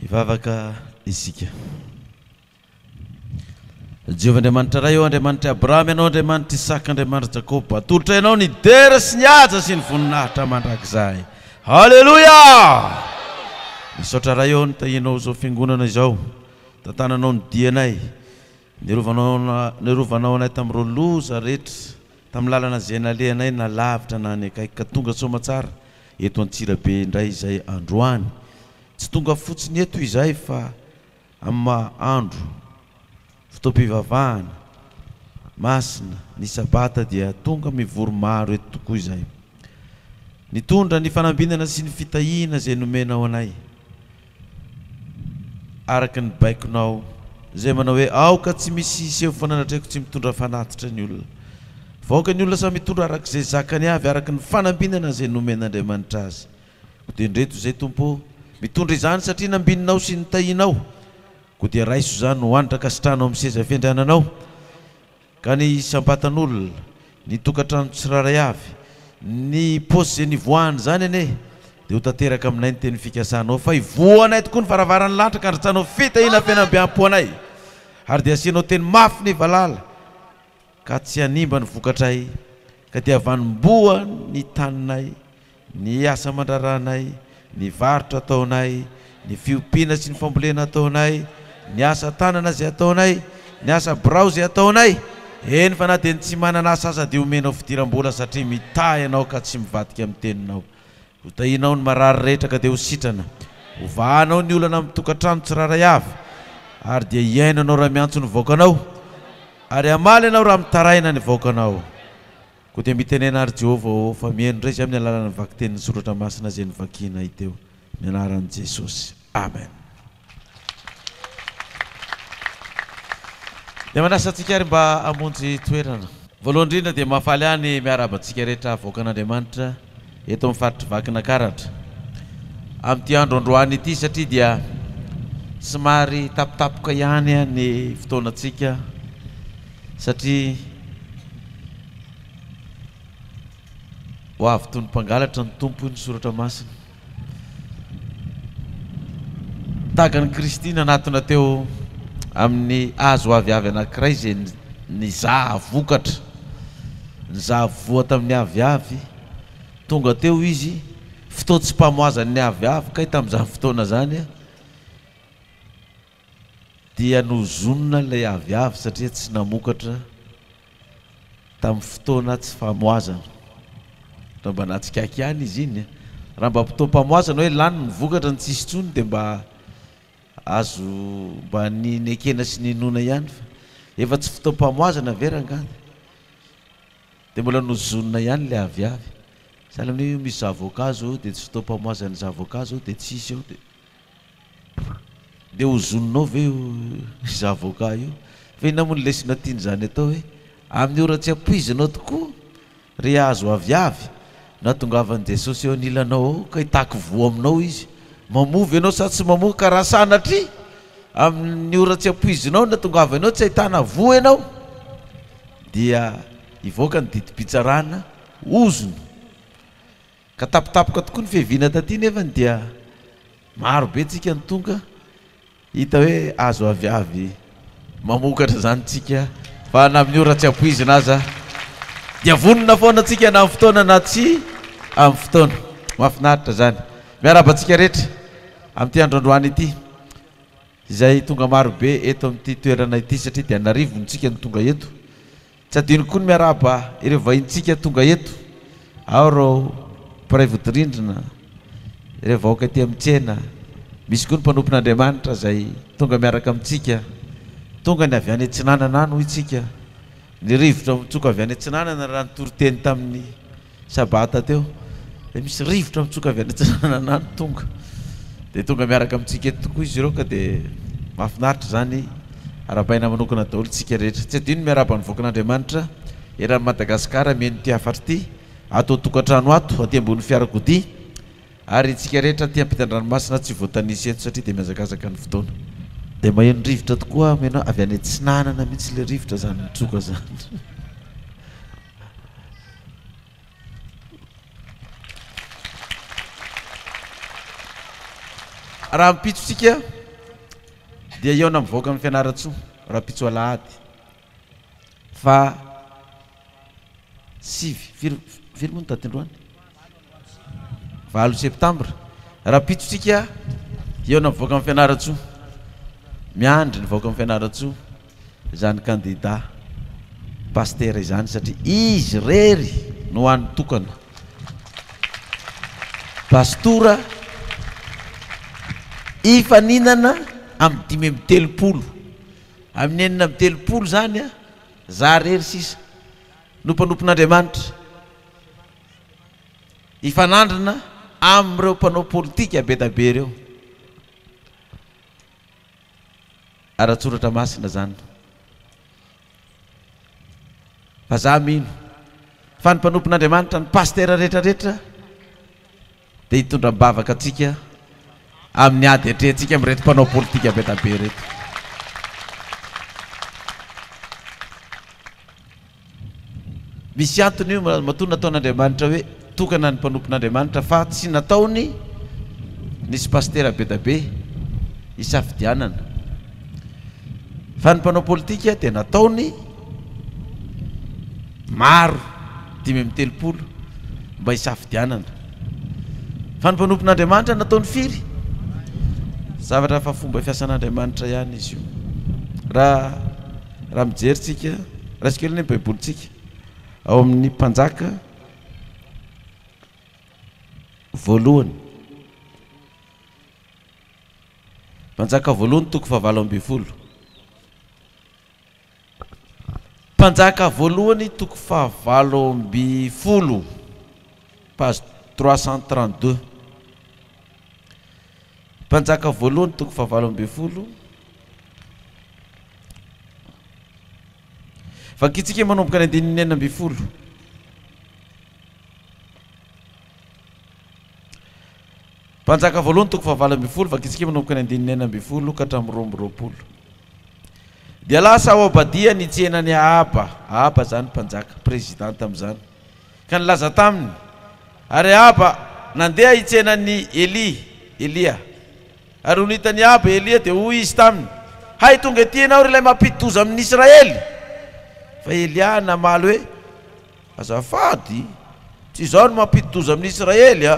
Hivavaka isika. Jehovah Andriamanitra Ray ô, Andriamanitr' i Abrahama Ianao, Andriamanitr' Isaka, Andriamanitr' Jakoba, atolotra Ianao ny dera sy ny haja sy ny voninahitra mandrakizay. Haleloia! Misaotra Ray ô, nitahianao izao fiangonana izao, tantananao ny dianay, Nirovanao anay tamin'ireo loza rehetra, tamin'ny lalana izay nalehanay na lavitra na any akaiky, ka tonga soamatsara eto Antsirabe indray izay androany. Tsy tonga fotsiny eto izahay fa amin'ny maha andro fotoam-pivavahana masina, ny Sabata, dia tonga mivory maro eto tokoa izahay, nitondra ny fanambinana sy ny fitahiana izay nomenao anay. araka ny baikonao izay manao hoe aoka tsy misy hiseho fa nanatrehiko tsy mitondra fanatitra ny olona fa aoka ny olona samy hitondra araka izay zakany avy araka ny fanambinana izay nomen'Andriamanitra azy koa dia ndreto izay Tompo o mitondra izany satria nambininao sy nitahianao koa dia raiso izany ho an'ny drankasitrahanao amin'ny seza fiandriananao Ka ny isam-batan'olona, ny tokantrano tsirairay avy, ny paosy izay nivoahany izany anie dia ho tanteraka aminay ny teny fikasanao fa hivoahanay tokoa ny varavaran'ny lanitra ka handrotsanao fitahiana fihenam-biampo anay ary dia hasianao teny mafy ny valala ka tsy hanimba ny vokatray ka dia havanimboa ny taninay Ny asa aman-draharahanay, ny varotra ataonay, ny fiompiana sy ny fambolena ataonay, ny asa tanana izay ataonay, ny asa birao izay ataonay, eny fa na dia ny tsy manana asa aza dia omenao fidiram-bola satria mitaha ianao ka tsy mivadika amin'ny teninao. Hotahianao ny marary rehetra ka dia ho sitrana. Hovahanao ny olana amin'ny tokantrano tsirairay avy ary dia hihaino ianao raha miantso ny vahoakanao ary hamaly anao raha mitaraina ny vahoakanao. Koa dia mitenena àry Jehovah ô, fa mihaino indray izay amin'ny alalan'ny vakitenin'ny Soratra Masina izay novakianay teo. Amin'ny anaran'i Jesosy. Amen. Dia manasa antsika àry mba hamonjy toerana. Voalohany indrindra dia mahafaly ahy ny miarahaba antsika rehetra havoakan'Andriamanitra. eto amin'ny faritr'i Vakinakaratra amin'ity andro androany ity satria dia somary tapitapoka ihany ny fotoanantsika satria ho avy toy ny mpangalatra ny Tompo hoy ny soratra masina. Tahaka an'i Kristy nanatona teo amin'ny hazo aviavy anankiray izay nizaha vokatra, nizaha voa tamin'ny aviavy, tonga teo Izy, fotoan-tsipamoazan'ny aviavy, kay tamin'izany fotoana izany, Dia nohozonina ilay aviavy satria tsy namokatra tamin'ny fotoana tsy famoazana. Raha mba nahatsikaiky ihany izy iny e! Raha mba fotoam-pamoazana hoe lany ny vokatra no tsisy intsony dia mba azo mba ny nekena sy ninoana ihany fa efa tsy fotoam-pamoazana ve rangahy? Dia mbola nohozonina ihany ilay aviavy. Sahala amin'io misy zavoka zao dia tsy fotoam-pamoazan'ny zavoka zao dia tsisy eo dia. Dia ho zononao ve io zavoka io? Fa inona moa ny lesona tian'izany atao hoe, amin'ny ora tsy ampoizinao tokoa, ry hazo aviavy, nahatongavan'i Jesosy eo anilanao ao ka hitaky voa aminao Izy. Mamoa ve ianao sa tsy mamoa? Ka raha sanatria amin'ny ora tsy ampoizinao no natongavany ao tsy hahitana voa ianao, dia hivoaka ny didim-pitsarana ozona. Ka tapitapoka tokoa ny fiaviana taty nefany dia maro be tsika no tonga hita hoe azo avy avy mamokatra izany tsika fa na amin'ny ora tsy ampoizina aza dia vonona foana tsika na amin'ny fotoana na tsy amin'ny fotoana. Mahafinaritra izany. Miarahaba antsika rehetra amin'ity andro androany ity izay tonga maro be eto amin'ity toerana ity satria dia an'arivony tsika no tonga eto. Tsy adinoko koa ny miarahaba ireo vahintsika tonga eto, ao ireo mpiray vodirindrina, ireo vahoaka ety amin'ny tsena, misy koa ny mpanompon'Andriamanitra izay tonga miaraka amintsika. Tonga ny avy any atsinanana any hoy isika. Ny rivotra mitsoka avy any atsinanana raha ny toriteny tamin'ny. Sabata teo dia misy rivotra mitsoka avy any Antsiranana any tonga dia tonga miaraka amintsika eto tokoa izy ireo ka dia mahafinaritra izany arabaina manokana daholo isika rehetra tsy adino miaraba ny voakan'Andriamanitra eran'i Madagasikara mihaino ity hafatra ity ato an-tokantrano ato aty ambony fiarakodia ary isika rehetra aty ampitan-dranomasina tsy voatanisa eto satria dia mihazakazaka ny fotoana dia maheno rivotra tokoa aho miheno avy any atsinanana mihitsy ilay rivotra izany mitsoka izany Rahampitsotsika dia eo na mivoaka amin'ny Fianarantsoa rahampitso alahady fa sivy, firy, firy moa ny daty androany? Valo septambra, rahampitsotsika hihaona amin'ny vahoaka ny Fianarantsoa. Miandry ny vahoaka ny Fianarantsoa izany kandida pasitera izany satria izy irery no hany tokana. Pastora hifaninana amin'ny dimy amby telopolo, amin'ny enina amby telopolo izany izaho irery sisa no mpanompon'Andriamanitra. hifanandrina amin'ireo mpanao politika be dia be ireo. Ara-tsoratra masina izany. Fa za mino fa ny mpanompon'Andriamanitra, ny pasitera rehetra rehetra, Dia hitondra am-bavaka antsika amin'ny ady atrehantsika amin'ireto mpanao politika be dia be ireto. Misy antony io matoa nataon'Andriamanitra hoe tokana ny mpanompon'Andriamanitra fa tsy nataony nisy pasitera be dia be hisafidianana. Fa ny mpanao politika dia nataony. Maro, dimy amby telopolo, mba hisafidianana. Fa ny mpanompon'Andriamanitra nataony firy? Zavatra hafa fomba fiasan'Andriamanitra ihany izy io. Raha, raha mijery tsika, raisiko kely ny baibolintsika. Ao amin'ny mpanjaka voalohany. Mpanjaka voalohany toko fahavalo ambin'ny folo. Mpanjaka voalohany toko fahavalo amby folo, page trois cent trente deux. Mpanjaka voalohany toko fahavalo amby folo. Vakintsika manomboka ny andininy enina amby folo. Mpanjaka voalohany toko fahavalo ambin'ny folo, Vakitsika manomboka ny andininy enina ambin'ny folo ka hatramin'ny roa amby roapolo. Dia lasa ao Obadia ny tsenan'i Ahaba, Ahaba izany mpanjaka, président tamin'izany, ka nilaza taminy, ary Ahaba nandeha hitsena an'i Elia, Elia. Ary nony hitan'i Ahaba Elia dia hoy izy taminy, Hay tonga ety ianao ry ilay mampidi-doza amin'Israely! Fa Elia namaly hoe. Azafady, tsy izaho no mampidi-doza amin'ny Israely a!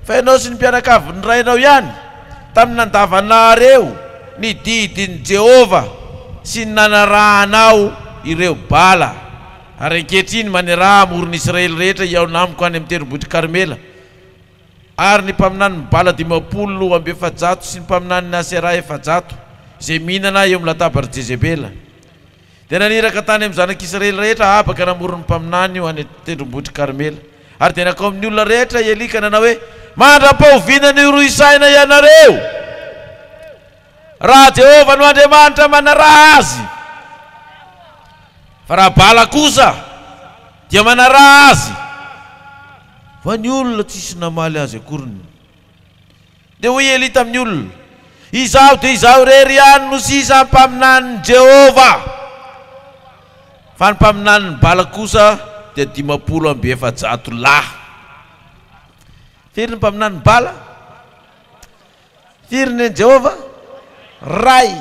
Fa ianao sy ny mpianakavin'ny rainao ihany, tamin'ny nandavanareo ny didin'i Jehovah sy ny nanarahanao ireo Bala. Ary ankehitriny maniraha hamoron'i Israely rehetra hihaona amiko any amin'ny tendrombohitr'i Karmela, ary ny mpaminanin'ny Bala dimampolo amby efajato sy ny mpaminanin'i Asera efajato, izay mihinana eo amin'ny latabarin'i Jezebela. Dia naniraka tany amin'ny zanak'Israely rehetra Ahaba ka namory ny mpaminany ho any an-tendrombohitr'i Karmela. Ary dia nankao amin'ny olona rehetra i Elia ka nanao hoe, Mandra-pahoviana ny horohisaina ianareo, raha Jehovah no Andriamanitra manaraha azy? Fa raha Bala kosa dia manaraha azy. Fa ny olona tsy nisy namaly azy akoriny. Dia hoy Elia tamin'ny olona, Izaho dia izaho irery ihany no sisa mpaminanin'i Jehovah, fa ny mpaminanin'i Bala kosa dia dimampolo amby efajato lahy. Firy ny mpaminanin'i Bala? Firy ny an'i Jehovah? Iray.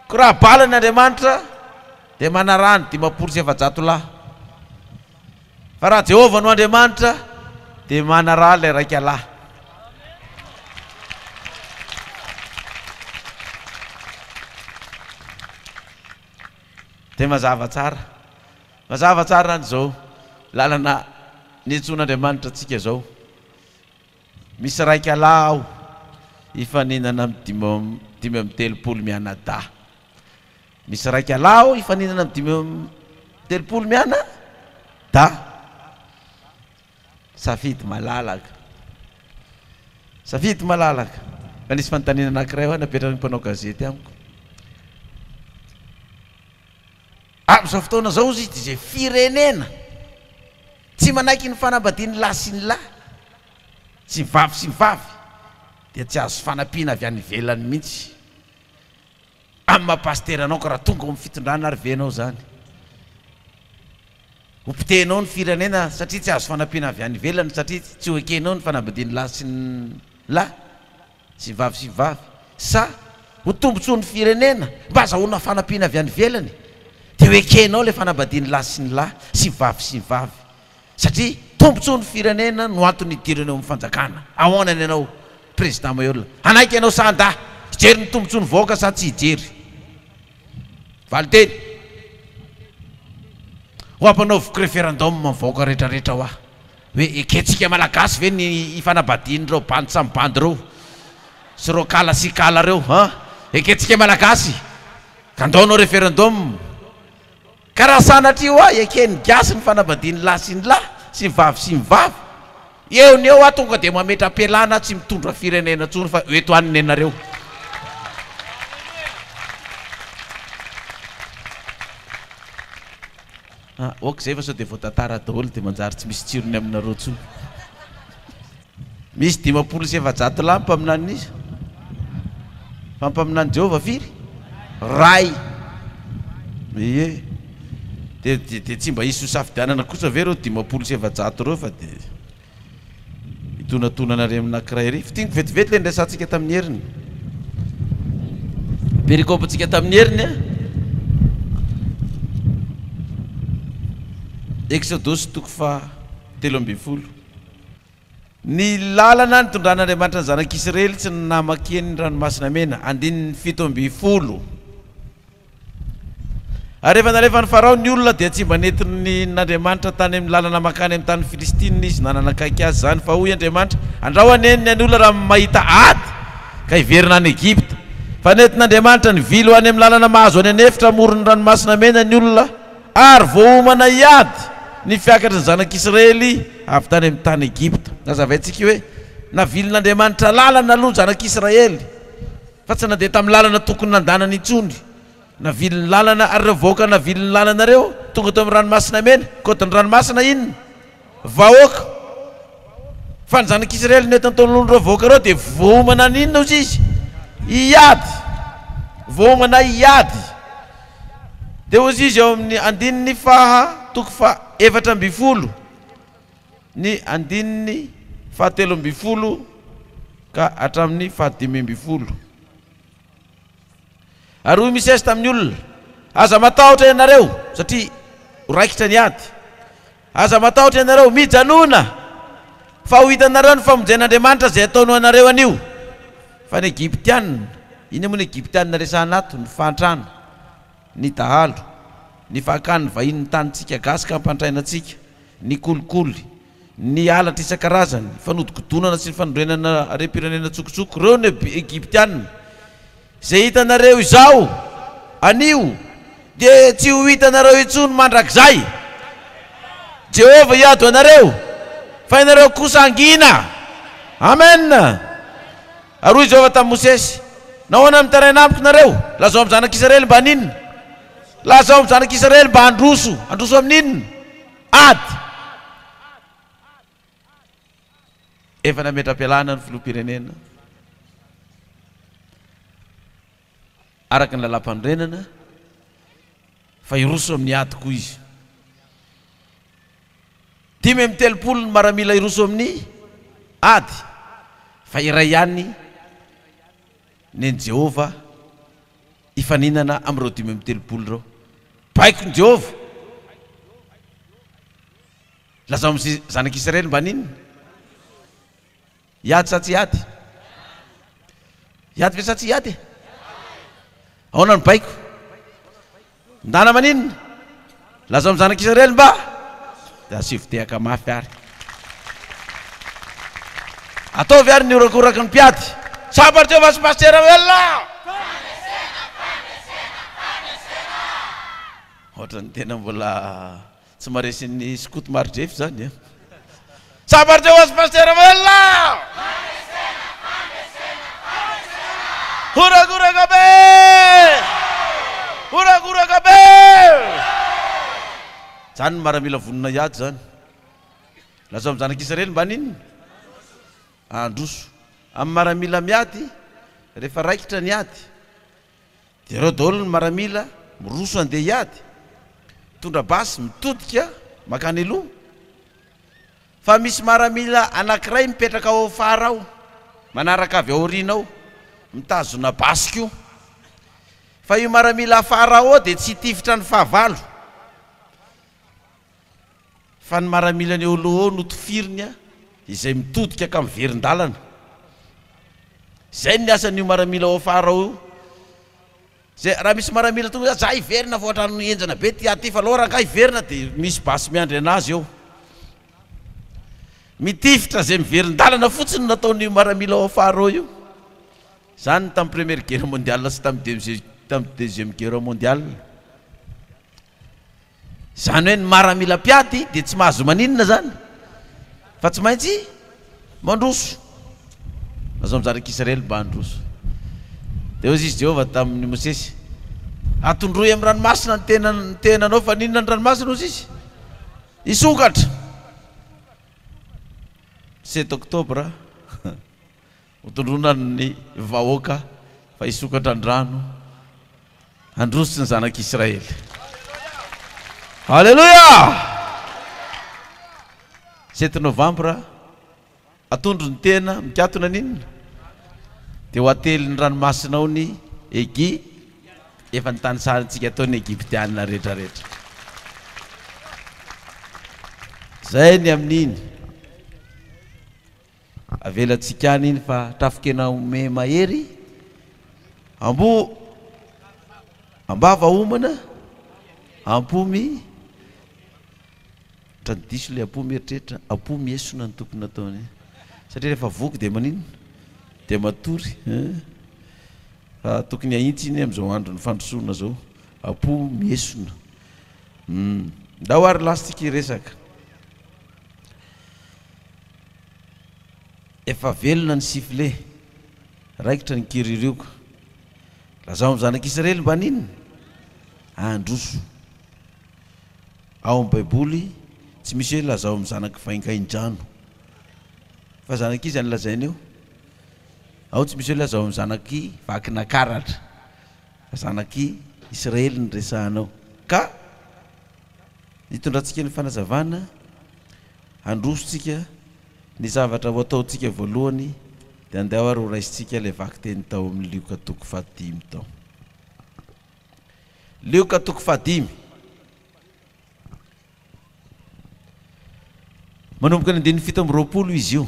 Koa raha Bala ny Andriamanitra, dia manaraha ny dimampolo sy efajato lahy. Fa raha Jehovah no Andriamanitra, dia manaraha ilay Raika Lahy. Dia mazava tsara. Mazava tsara any izao lalana niantsoan'Andriamanitra antsika izao. Misy Raika Lahy ao, hifaninana amin'ny dimy amby telopolo mianadahy. Misy raika lahy ao hifaninana amin'ny dimy amby telopolo miana da safidy malalaka. Safidy malalaka. Fa nisy fanontaniana anankiray hoa napetrakiny mpanao gazety amiko. Amin'izao fotoana izao hozy izy izay firenena tsy manaiky ny fanambadian'ny lahy sy ny lahy sy ny vavy sy ny vavy dia tsy azo fanampiana avy any ivelany mihitsy. Amin'ny maha pasitera anao ka raha tonga ao amin'ny fitondrana ary ve ianao izany ho potehinao ny firenena satria tsy azo fanampiana avy any ivelany satria tsy ho ekenao ny fanambadian'ny lahy sy ny lahy sy ny vavy sy ny vavy sa ho tombontsoan'ny firenena mba azahoana fanampiana avy any ivelany dia ho ekenao ilay fanambadian'ny lahy sy ny lahy sy ny vavy sy ny vavy satria tombotsoan'ny firenena no antony hidirana eo amin'ny fanjakana, ahoana ny anao Président Mayolle? hanaiky ianao sa handà? hijery ny tombotsoan'ny vahoaka sa tsy hijery? valinteny ho hampanaoviko referendum ny vahoaka rehetra rehetra hoa hoe ekentsika malagasy ve ny hifanabadian'ireo bandy samy bandy ireo sy ireo kala sy kala ireo an! ekentsika malagasy ka ndao hanao referendum Ka raha sanatria hoa eken'ny gasy ny fanambadian'ny lahy sy ny lahy, sy ny vavy sy ny vavy, eo no eo aho tonga dia mametra-pialana aho tsy mitondra firenena intsony fa eto any nenareo. Ah, ok izay fa sao dia voatantara daholo dia manjary tsy misy tsirony aminareo intsony. Misy dimampolo sy efajato lahy mpaminanin'iza? Fa mpaminanin'i Jehovah firy? Ray. Ie. Dia dia dia tsy mba hisy hosafidianana kosa ve ireo dimampolo sy efajato ireo fa dia hitonatonana irery amin'ny anankiray irery? Fintiniko vetivety ilay niresahantsika tamin'ny heriny. Perikopantsika tamin'ny heriny a. Eksodosy toko faha telo ambin'ny folo. Ny lalana nitondran'Andriamanitra ny zanak'Isiraely tsy namakiany ny Ranomasina Mena, andininy fito ambin'ny folo. Ary rehefa nalefan'i Farao ny olona dia tsy mba nentiny n'Andriamanitra tany amin'ny lalana mankany amin'ny tanin'ny Filistina izy na nanakaiky azy izany fa hoy Andriamanitra, Andrao anie ny an'ny olona raha mahita ady ka hiverina any Egypta. Fa nentin'Andriamanitra nivily ho any amin'ny lalana mahazo any an'efitra amoron'ny Ranomasina Mena ny olona. Ary voaomana hiady ny fiakatry ny zanak'Israely avy tany amin'ny tany Egypta. Nazavaintsika hoe, Navilin'Andriamanitra lalana aloha ny zanak'Israely, fa tsy nandeha tamin'ny lalana tokony nandanany intsony. Naviliny lalana, ary ireo vahoaka naviliny lalana ireo, tonga teo amin'ny Ranomasina Mena, kaodin'ny ranomasina inona? Vahoaka. Fa ny Zanak' Isiraely no eto an-tolon'ireo vahoaka ireo dia voaomana haninona hozy izy? Hiady. Voaomana hiady. Dia hozy izy ao amin'ny andininy faha, toko faha efatra ambin'ny folo, ny andininy faha telo ambin'ny folo ka hatramin'ny faha dimy ambin'ny folo. Ary hoy Misesy tamin'ny olona, Aza matahotra ianareo, satria ho raikitra ny ady. Aza matahotra ianareo, mijanòna, fa ho hitanareo ny famonjen'Andriamanitra izay ataony ho anareo anio. Fa ny Egyptianina, inona moa ny Egyptianina resahana ato? Ny fahantrana, ny dahalo, ny fahakan'ny vahiny ny tanintsika gasy ka hampantraina antsika, ny kolikoly, Ny halatra isan-karazany, fanodikodonana sy ny fanorenana harem-pirenena an-tsokotsoko, ireo no Egyptiana. Izay hitanareo izao, anio, dia tsy ho hitanareo intsony mandrakizay. Jehovah hiady ho anareo, fa ianareo kosa hangina. Amen! Ary hoy Jehovah tamin'i Mosesy, Nahoana mitaraina amiko nareo? Lazao amin'ny zanak'Israely mba haninona? Lazao amin'ny zanak'Israely mba handroso. Handroso amin'inona? Ady! Efa nametra-pialana ny Filoham-pirenena araka ny Lalàmpanorenana fa hiroso amin'ny ady koa izy. Dimy amby telopolo ny maramila hiroso amin'ny ady fa iray ihany nen'i Jehovah. hifaninana amin'ireo dimy amby telopolo ireo. Baikon'i Jehovah! Lazao amin'izay zanak'Israely mba haninona? Hiady sa tsy hiady? Hiady ve sa tsy hiady? Ahoana ny baiko? Ndana maninona? Lazao ny zanak' Israely mba dia asivo tehaka mafy ary. Ataovy ary ny horakoraky ny mpiady. Tsapa ry Jehovah sy Pasitera Ravelona! Hoatran'ny tena mbola. Tsy maresin'ny skoto maridrefy zany a! Sabarina hoazy Pasitera Velona! Fandresena! Fandresena! Fandresena! Horagoraka be! Horagoraka be! Zany ny maramila vonona hiady zany. Lazao amin'ny zanak'Israely mba n'inona? Handroso. Amin'ny maramila miady rehefa raikitra ny ady. Dia ireo daholo ny maramila miroso handeha hiady, mitondra basy, mitodika mankany aloha. Fa misy maramila anankiray mipetraka ao afara ao, manaraka avy aoriana ao, mitazona basy koa. Fa io maramila afara ao dia tsy hitifitra ny fahavalo. Fa ny maramilan'i Olo'O no tifiriny a! izay mitodika ka miverin-dalana. Izay ny asan'io maramila ao afara ao io. Izay, raha misy maramila tonga za hiverina vao an-trano henjana be ty aty fa lora angaha hiverina dia misy basy miandry anazy eo. Mitifitra izay miverin-dalana fotsiny no nataon'io maramila ao afara ao io. Izany ny tamin'ny première guerre mondiale sy tamin'ny deuxième guerre mondiale. Zany hoe ny maramila mpiady dia tsy mahazo maninona zany fa tsy maintsy mandroso. Azao mizaha rek Israely mba handroso. Dia hoy izy Jehovah tamin'i Mosesy, Atondroy amin'ny ranomasina ny tena ny tenanao fa ninona ny ranomasina hozy izy? Hisokatra. 7 octobre. Hotondroina ny vahoaka fa hisokatra ny rano handroso ny zanak'Israely. Aleloia! Sept novambra, atondro ny tena, mikatona ny inona? Dia ho atelin'ny ranomasina ao ny Egi, efa ny tanisarintsika tao ny Egyptiana rehetrarehetra. Zay ny amin'iny. Avelantsika any iny fa trafikena ome mahery ambo ambava homana ampomy tra ny diso le ampomy eritreritra ampomy esona ny tokony nataony satria rehefa voky dia maninona dia matory fa tokony ahitsy iny amin'izao andron'ny fandrosoana zao ampomy esona ndao ary lasitsika iresaka Efa velona ny sifle, raikitra ny kiririoka. Lazao amin'ny zanak'Israely mba n'inona? Handroso. Ao amin'ny Baiboly, tsy misy hoe lazao amin'ny zanak'i Vaingaindrano. Fa zanak'iza no lazaina eo? Ao tsy misy hoe lazao amin'ny zanak'i Vakinakaratra. Fa zanak'i Israely no resahana ao. Ka, ny itondrantsika ny fanazavana, Handrosontsika ny zavatra ho ataontsika voalohany dia andeha ary ho raisintsika ilay vakiteny tao amin'ny Lioka toko fahadimy tao. Lioka toko fahadimy. Manomboka ny andininy fito amby roapolo izy io.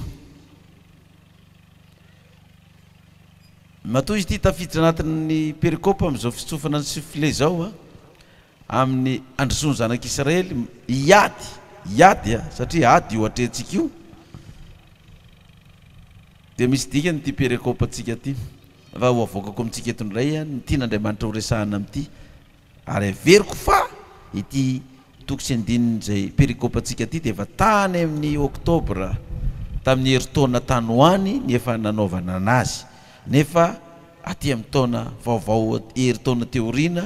Matoa izy ity tafiditra anatin'ny perikopa amin'izao fitsofana ny sifle izao. amin'ny handrosoan'ny zanak'Israely hiady, hiady a, satria ady io atrehantsika io, dia misy dikany ity perekope antsika ity, raha ho avoakako amintsika eto indray ny tian'Andriamanitra ho resahana amin'ity, ary averiko fa ity toko sy andininy izay perikope antsika ity dia efa tany amin'ny oktobra tamin'ny herintaona tany ho any ny efa nanaovana anazy, nefa aty amin'ny taona vaovao herintaona teo aoriana,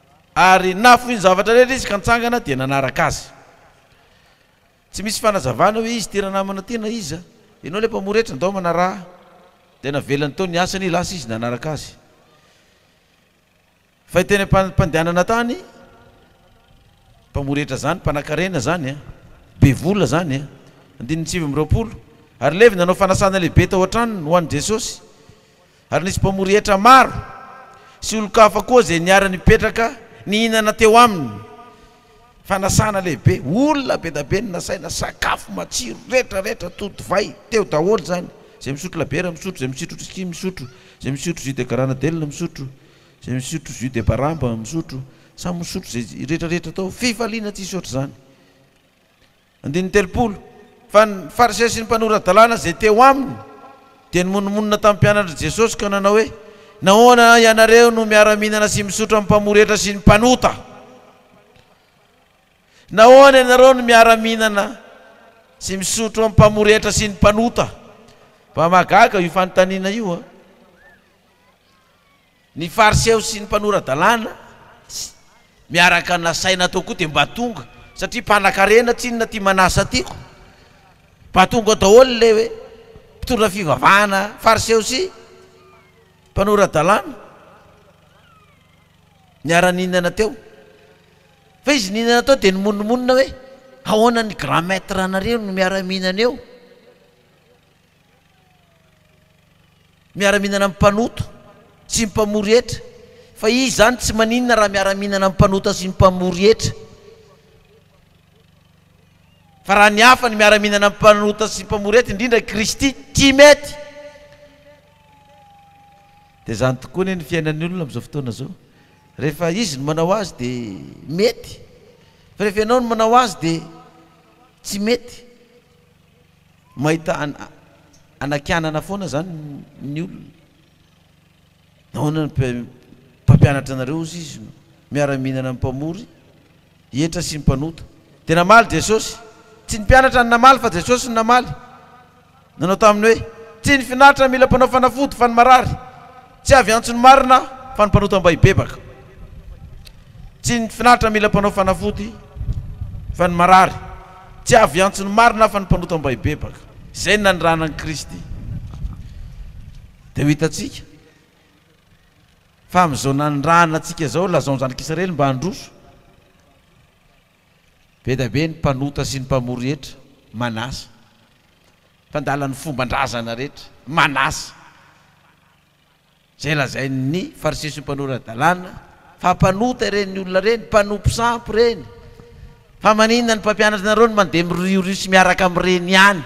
Ary nafoiny zavatra rehetra izy ka nitsangana dia nanaraka azy. Tsy misy fanazavana hoe izy ity ranamana ity na iza. Ianao ilay mpamory hetra, ndao manaraha ahy. Dia navelany teo ny asany, lasa izy nanaraka azy. Fa teny am-pandehanana tany, mpamory hetra izany, mpanakarena izany an, be vola izany an, andininy sivy amby roapolo, ary levy nanao fanasana lehibe tao an-tranony ho an'i Jesosy. Ary nisy mpamory hetra maro sy olon-kafa koa izay niara-nipetraka nihinana teo aminy. Fanasana lehibe, olona be da be no nasaina, sakafo matsiro, retra retra, tody divay, teo daholo izany. Izay misotro labiera misotro, izay misitro whisky misotro, izay misotro jus de garanadel misotro, izay misotro jus de baramba misotro, samy misotro izay retra retra tao, fifaliana tsisy ohatr'izany. Andininy telopolo, Fa ny Fariseo sy ny mpanora-dalàna izay teo aminy dia nimonomonona tamin'ny mpianatr'i Jesosy ka nanao hoe, Nahoana ianareo no miara-mihinana sy misotro amin'ny mpamoretra sy ny mpanota? Nahoana ianareo no miara-mihinana sy misotro amin'ny mpamoretra sy ny mpanota? Mba mahagaga io fanontaniana io an! Ny Fariseo sy ny mpanora-dalàna sy miaraka nasaina tao koa dia mba tonga satria mpanakarena tsinona ty Manasa ty ko! Mba tonga daholo le mpitondra fivavahana Fariseo sy mpanora-dalàna niara nihinana teo. Fa izy nihinana tao dia nimonomonona hoe, Ahoana ny Grand Maître anareo no miara mihinana eo? Miara-mihinana amin'ny mpanota sy ny mpamory hetra, fa izy izany tsy maninona raha miara-mihinana amin'ny mpanota sy ny mpamory hetra. Fa raha ny hafa no miara-mihinana amin'ny mpanota sy ny mpamory hetra, indrindra i Kristy, tsy mety. Dia izany tokoa anie ny fiainan'ny olona amin'izao fotoana izao. Rehefa izy no manao azy dia mety, fa rehefa ianao no manao azy dia tsy mety. Mahita hanakianana foana izany ny olona. Nahoana ny mpampianatra anareo hozy izy no miara-mihinana amin'ny mpamory hetra sy ny mpanota? Dia namaly Jesosy, Tsy ny mpianatra no namaly fa Jesosy no namaly, nanao taminy hoe, Tsy ny finaritra no mila mpanao fanafody fa ny marary. Tsy avy antso ny marina aho fa ny mpanota mba hibebaka. Tsy ny finaritra mila mpanao fanafody fa ny marary. Tsy avy antso ny marina aho fa ny mpanota mba hibebaka. Izay ny nanirahana an'i Kristy. Dia ho hitantsika fa amin'izao nanirahana antsika izao, lazaon'i zanak'Israely mba handroso. Be da be ny mpanota sy ny mpamory hetra, manasa. Mpandala ny fomban-drazana rehetra, manasa. Izay lazain' ny fariseo sy ny mpanora-dalàna fa mpanota ireny olona ireny, mpanompo sampy ireny. Fa maninona ny mpampianatra anareo no mandeha miriorio sy miaraka amin' ireny ihany?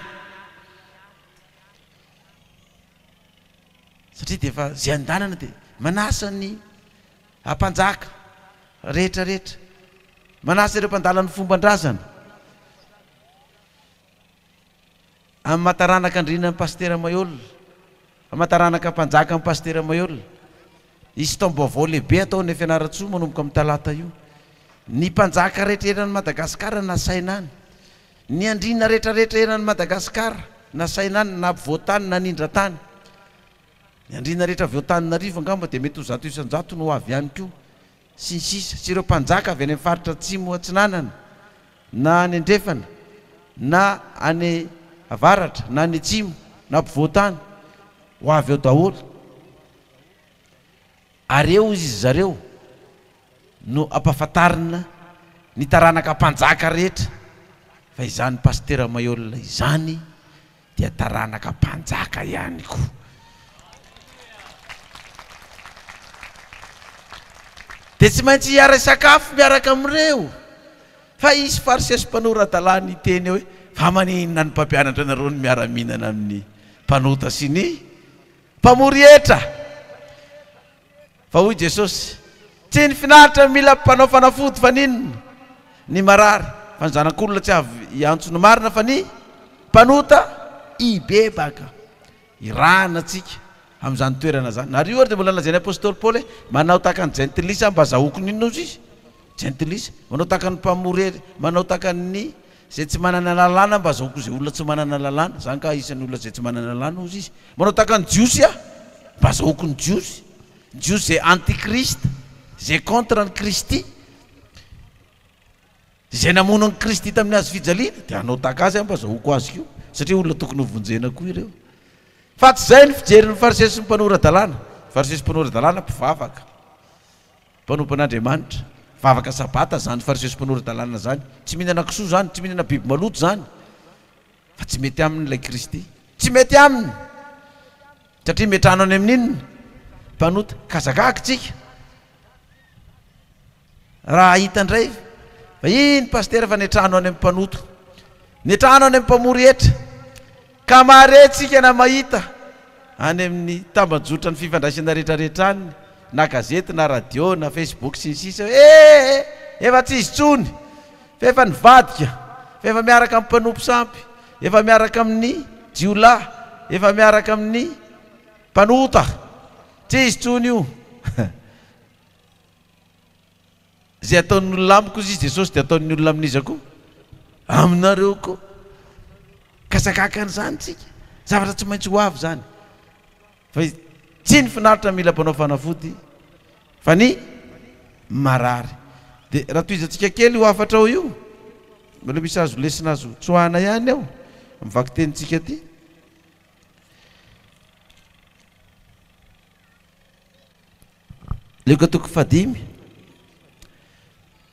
Satria dia efa izay an-dalana dia manasa ny. A Mpanjaka rehetra rehetra, manasa ireo mpandala ny fomban-drazana Amataranaka Andriana ny Pasitera Maihol, Amataranaka Mpanjaka ny Pasitera Maihol. Hisy taom-baovao lehibe atao any Fianarantsoa manomboka amin'ny talata io. Ny Mpanjaka rehetra eran'i Madagasikara nasaina any. Ny Andriana rehetra rehetra eran'i Madagasikara nasaina any, na mpivoatany na nindra tany. Ny andriana rehetra avy ao Antananarivo angamba dia mety ho zato isan-jato no ho avy ihany koa, sy ny sisa Sy ireo mpanjaka avy any amin'ny faritra atsimo atsinanana na any andrefana na any avaratra na any atsimo na mpivoatany ho avy ao daholo ary eo izy zareo no ampahafantarina ny taranaka mpanjaka rehetra fa izany Pasitera Maihol izany dia taranaka mpanjaka ihany koa. Dia tsy maintsy hiara-hisakafo miaraka amin'ireo. Fa hisy Fariseo sy mpanora-dalàna hiteny hoe, Fa maninona ny mpampianatra anareo no miara-mihinana amin'ny mpanota sy ny mpamory hetra? Fa hoy Jesosy, Tsy ny finaritra no mila mpanao fanafody fa ny inona? Ny marary, fa ny zanak'olona tsy avy hiantso ny marina fa ny mpanota hibebaka. Irahana antsika amin'izany toerana izany. Ary io ary dia mbola nolazain'ny apostoly Paoly hoe, Manao tahaka ny jentilisa mba zahoky ny inona hozy izy? Jentilisa. Manao tahaka ny mpamory hery, manao tahaka ny Izay tsy manana lalàna mba azahoako izay olona tsy manana lalàna, za angaha isan'ny olona izay tsy manana lalàna hozy izy, manao tahaka ny Jiosy aho mba azahoako ny Jiosy, ny Jiosy izay anti-Christ, izay contre an'i Kristy, izay namono an'i Kristy tamin'ny hazo fijaliana dia hanao tahaka azy aho mba azahoako azy koa satria olona tokony hovonjena koa ireo. Fa tsy izay ny fijerin'ny Fariseo sy ny mpanora-dalàna, Fariseo sy mpanora-dalàna mpivavaka. Mpanompon'Andriamanitra, vavaka sabata zany fariseo sy mpanora-dalàna zany, tsy mihinana kisoa zany, tsy mihinana biby maloto zany fa tsy mety aminy ilay Kristy, tsy mety aminy satria miantrano any amin'inona? Mpanota, ka zagag tsika raha hahita ndray fa iny Pasitera fa niantrano any amin'ny mpanoto, niantrano any amin'ny mpamory hetra, Ka mahare tsika na mahita any amin'ny tambajotran'ny fifandraisana retraretra any na gazety na radio na facebook sy ny sisa hoe ee efa tsy izy tsony fa efa nivadika fa efa miaraka amin'ny mpanompo sampy efa miaraka amin'ny jiolahy efa miaraka amin'ny mpanota tsy izy tsony io Izay ataon'ny olona amiko izy Jesosy dia ataon'ny olona amin'iza koa? Aminareo koa. Ka sakaka an'izany tsika. Zavatra tsy maintsy ho avy izany. Fa tsy ny finaritra mila mpanao fanafody fa ny marary. Dia raha tohizantsika kely io hafatra ao io. Mbola misy azo lesona azo tsoahana ihany ao amin'ny vakitenintsika ity. Lioka toko fahadimy,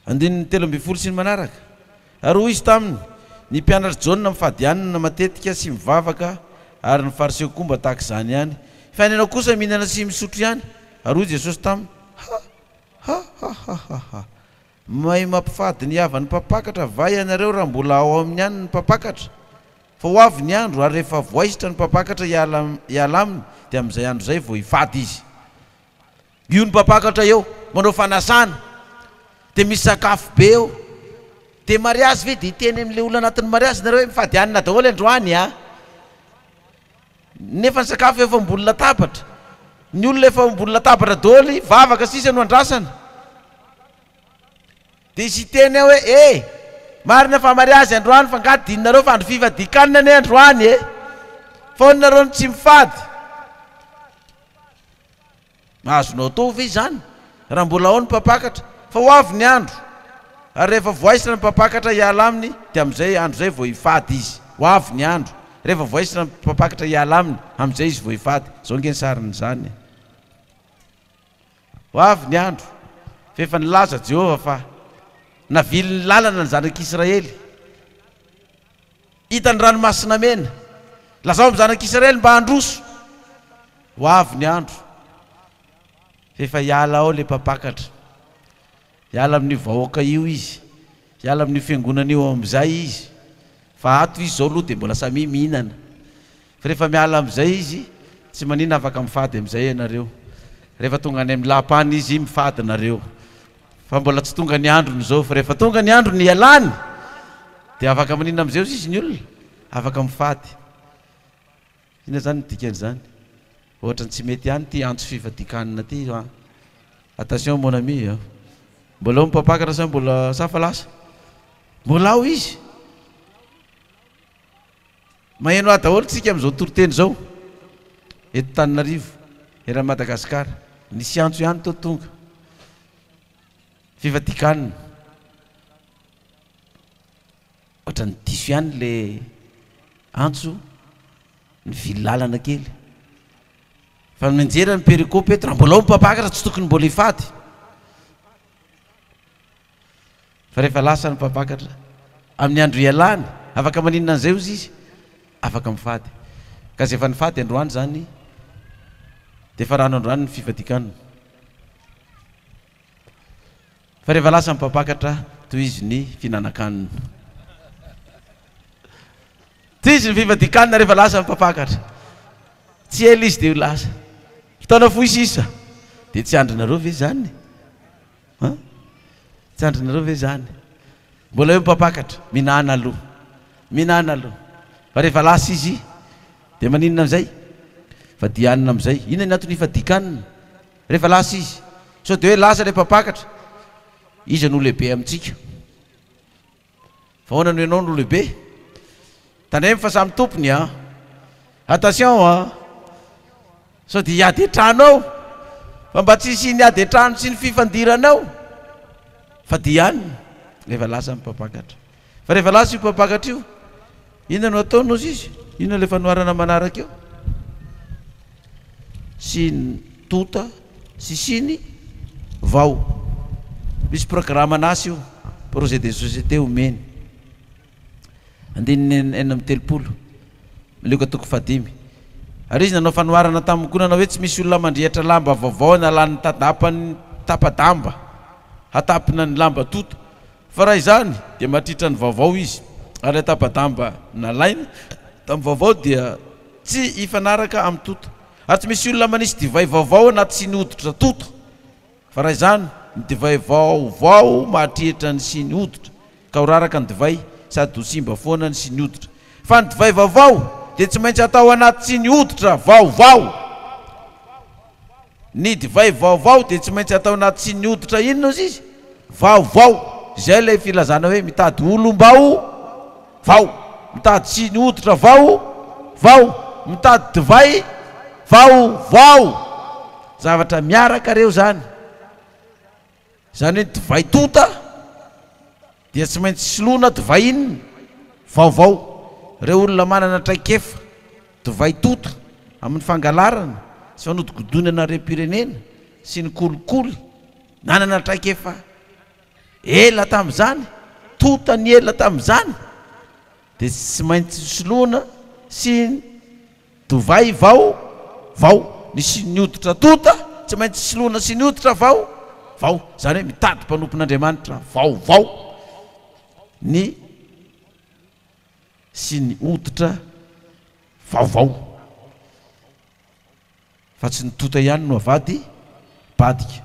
andininy telo ambin'ny folo sy ny manaraka, Ary hoy izy taminy, Ny mpianatr'i Jaona mifadianana matetika sy mivavaka, ary ny Fariseo koa mba tahaka izany ihany, fa ny anao kosa mihinana sy misotro ihany. Ary hoy Jesosy taminy, Ha! ha! ha! ha! ha! ha! Mahay mampifady ny havan'ny mpampakatra va ianareo raha mbola ao aminy ihany ny mpampakatra? Fa ho avy ny andro, ary rehefa voaisitra ny mpampakatra hiala hiala aminy, dia amin'izay andro izay vao hifady izy. Io ny mpampakatra eo manao fanasana, dia misy sakafo be eo. Dia mariazy ve? Dia hiteny amin'ilay olona anatin'ny mariazy nareo hoe mifady hanina daholo androany an! Nefa ny sakafo efa ambony latabatra. Ny olona efa ambony latabatra daholo, vavaka sisa no andrasana. Dia hiteny aho hoe, E! Marina fa mariazy androany fa nga adinonareo fa andro fifadikanina anie androany e! Foana nareo no tsy mifady. Azonao atao ve izany raha mbola ao ny mpampakatra? Fa ho avy ny andro ary rehefa voaisina ny mpampakatra hiala aminy dia amin'izay andro izay vao hifady izy. Ho avy ny andro rehefa voaisina ny mpampakatra hiala aminy, amin'izay izy vao hifady. Izao ange ny sarin'izany e! Ho avy ny andro, fa efa nilaza Jehovah fa navily ny lalana ny zanak'Israely. Hita ny Ranomasina Mena. Lazao amin'ny zanak'Israely mba handroso. Ho avy ny andro, fa efa hiala ao ilay mpampakatra. Hiala amin'io vahoaka io izy, hiala amin'io fiangonana io ao amin'izay izy, fa ato izy izao aloha dia mbola samia mihinana, fa rehefa miala amin'izay izy, tsy maninona afaka mifady amin'izay ianareo, rehefa tonga any amin'ny lapany izy mifady nareo, fa mbola tsy tonga ny androny izao, fa rehefa tonga ny androny hialany dia afaka maninona amin'izay ozy izy ny olona? Afaka mifady. Inona izany no dikan'izany? Ohatran'ny tsy mety ihany ity antso fivadikanina ity a! Attention mon ami a! Mbola ao ny mpampakatra sa mbola sa fa lasa? Mbola ao izy! Maheno ahy daholo tsika amin'izao toriteny izao eto Tananarivo, eran'i Madagasikara. Nisy antso ihany tao tonga. Fivadikanina. Ohatran'ny diso ihany le antso nivily lalana kely fa ny mianjera ny perikopy eto raha mbola ao ny mpabaka raha tsy tokony mbola hifady fa rehefa lasa ny mpabakatra amin'ny andro ialany afaka maninona an'izay ozy izy afaka mifady ka zay efa nifady androany zany dia efa rano androany ny fifadikanina Fa rehefa lasa ny mpampakatra, tohizo ny fihinanan-kanina. Tohizo ny fifadian-kanina rehefa lasa ny mpampakatra. Tsy ela izy dia ho lasa. Fotoana fohy sisa. Dia tsy andrinareo ve izany? An? Tsy andrinareo ve izany? Mbola eo ny mpampakatra. Mihinana aloha. Mihinana aloha. Fa rehefa lasa izy, dia maninona amin'izay? Fadihanina amin'izay. Inona ny antony hifadian-kanina? Rehefa lasa izy. Sao dia hoe lasa ilay mpampakatra? Iza no lehibe amintsika? Fa ahoana no ianao no lehibe? Tandremo fa samy tompony an! Attention an! Sao dia hiady an-trano ao? Fa mba tsy hisian'ny ady an-trano sy ny fifandirana ao! Fa dia any rehefa lasa ny mpampakatra. Fa rehefa lasa io mpampakatra io, inona no ataony hozy izy? Inona ilay fanoharana manaraka eo? Siny, tonta, sy siny, vao. Misy programan'asa io, projet de société omeny. Andininy enina amby telopolo, Lioka toko fahadimy. Ary izy nanao fanoharana taminy koa nanao hoe, Tsy misy olona mandrehitra lamba vaovao na lanin'ny tadapany tapa-damba, hatapina ny lamba tonta. Fa raha izany dia matritra ny vaovao izy ary ilay tapa-damba nalaina tamin'ny vaovao dia tsy hifanaraka amin'ny tuto ary tsy misy olona manisy divay vaovao anaty siny hoditra tuto fa raha izany ny divay vaovao mahatritra ny siny hoditra ka ho raraka ny divay sady ho simba foana ny siny hoditra fa ny divay vaovao dia tsy maintsy atao anaty siny hoditra vaovao Ny divay vaovao dia tsy maintsy atao anaty tsy ny hoditra inona ozy izy? Vaovao. Izay ilay filazana hoe mitady olom-bao vao, mitady tsy ny hoditra vao vao, mitady divay vao vao. Zavatra miaraka ireo izany. Izany hoe ny divay tonta dia tsy maintsy soloina divay inona? Vaovao. Ireo olona manana traikefa divay tonta amin'ny fangalarana sy fanodikodinana harem-pirenena sy ny kolikoly nanana traikefa ela tamin'izany, tonta ny ela tamin'izany dia tsy maintsy soloina sy. Dovay vao vao nisy ny hoditra tonta, tsy maintsy soloina sy ny hoditra vao vao, izany hoe mitady mpanompon'Andriamanitra vao vao ny sy ny hoditra vao vao, fa tsy ny tonta ihany no avady badika.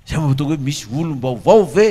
Izay no mahatonga hoe misy olom-baovao ve?